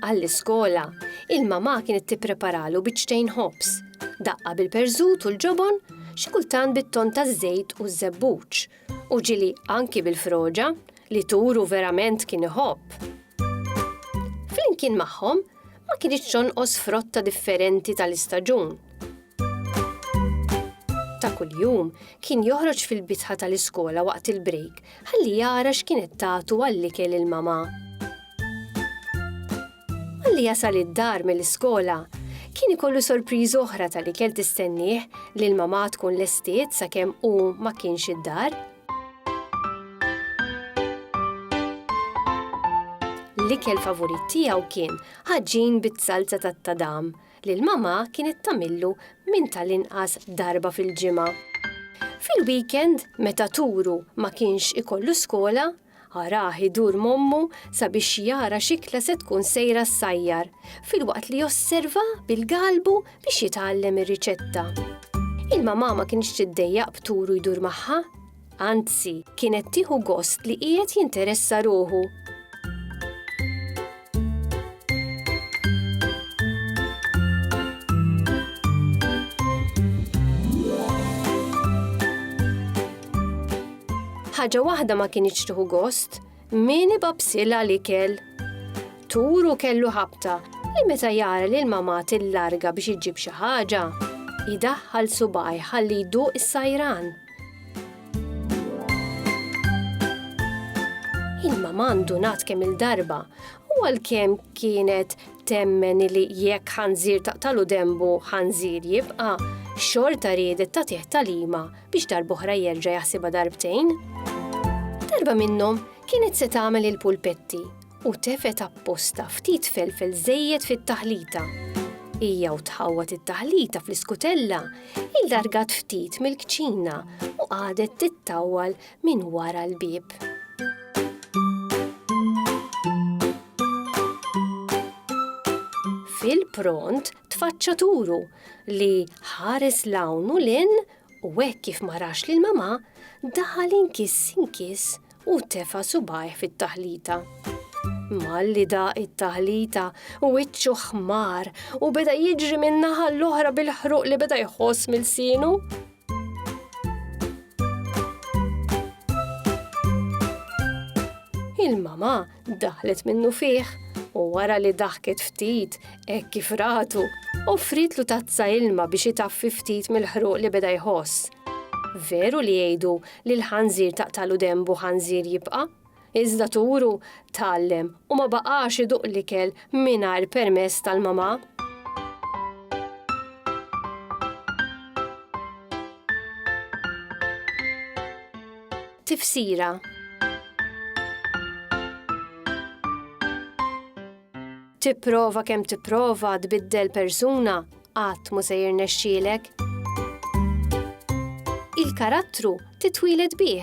Għall-iskola, il-mamà kienet tippreparalu biċċtejn ħobż, daqqa bil-perżut u l-ġobon, xi kultant bit-tonn taż-żejt u ż-żebbuġ, u ġili anki bil-froġa, li turu verament kien iħobb. Flimkien magħhom, ma kinitx tonqos frotta differenti tal-istaġun. Ta' kuljum, kien joħroġ fil-bitħa tal-iskola waqt il-brejk Ħalli jara x'kienet tagħtu għall-ikel il-mamà. Malli jasal id-dar mill-iskola, kien ikollu sorpriża oħra tal-ikel tistennieh li l-mamà tkun lestiet sakemm hu ma kienx id-dar. L-ikel favurit tiegħu kien ħaġin bit-salza tat-tadam, li l-mamà kienet tagħmillu minn tal-inqas darba fil-ġimgħa. Fil-weekend, meta Turu ma kienx ikollu skola, arah idur m'ommu sabiex jara x'ikla se tkun sejra ssajjar, filwaqt li josserva bil-galbu biex jitgħallem ir-riċetta. Il-mamà ma kinitx tiddejjaq b'Turu jdur magħha, Anzi, kienet tieħu gost li qiegħed jinteressa ruħu. Ħaġa waħda ma kienitx tieħu gost, Min ibabsilha l-ikel? Turu kellu ħabta li meta jara li l-mamà tillarga biex iġġib xi ħaġa, jidaħħal subaj ħalli jduq is-sajran. Il-mamà ndunat kemm il-darba u għalkemm kienet temmen li jekk ħanżir taqtalu dembu ħanżir jibqa, xorta riedet tagħtih talima biex darb'oħra jerġa' jaħsibha darbtejn. Darba minnhom kienet se tagħmel il-pulpetti u tefet apposta ftit felfel żejjed fit-taħlita. Hija u tħawwat it-taħlita fl-iskutella il-dargat ftit mill-kċina u qadet tittawwal minn wara l-bieb. Fil-pront tfaċċa turu li ħares 'l hawn u 'l hinn u hekk kif ma rax lil mamà, daħal inkiss inkiss u tefa' subgħajh fit-taħlita. Malli daq it-taħlita, wiċċu ħmar u beda jiġri min-naħa l-oħra bil-ħruq li beda jħoss m'ilsienu. Il-mama daħlet minnu fih u wara li daħket ftit hekk kif ratu, offritlu tazza ilma biex itaffi ftit mill-ħruq li beda jħoss. Veru li jgħidu li l-ħanżir taqtalu dembu ħanżir jibqa'? Iżda turu tgħallem u ma baqax iduq l-ikel mingħajr permess tal-mamà. Tifsira Tipprova kemm tipprova tbiddel persuna, qatt mhu se jirnexxielek. Il-karattru titwieled bih.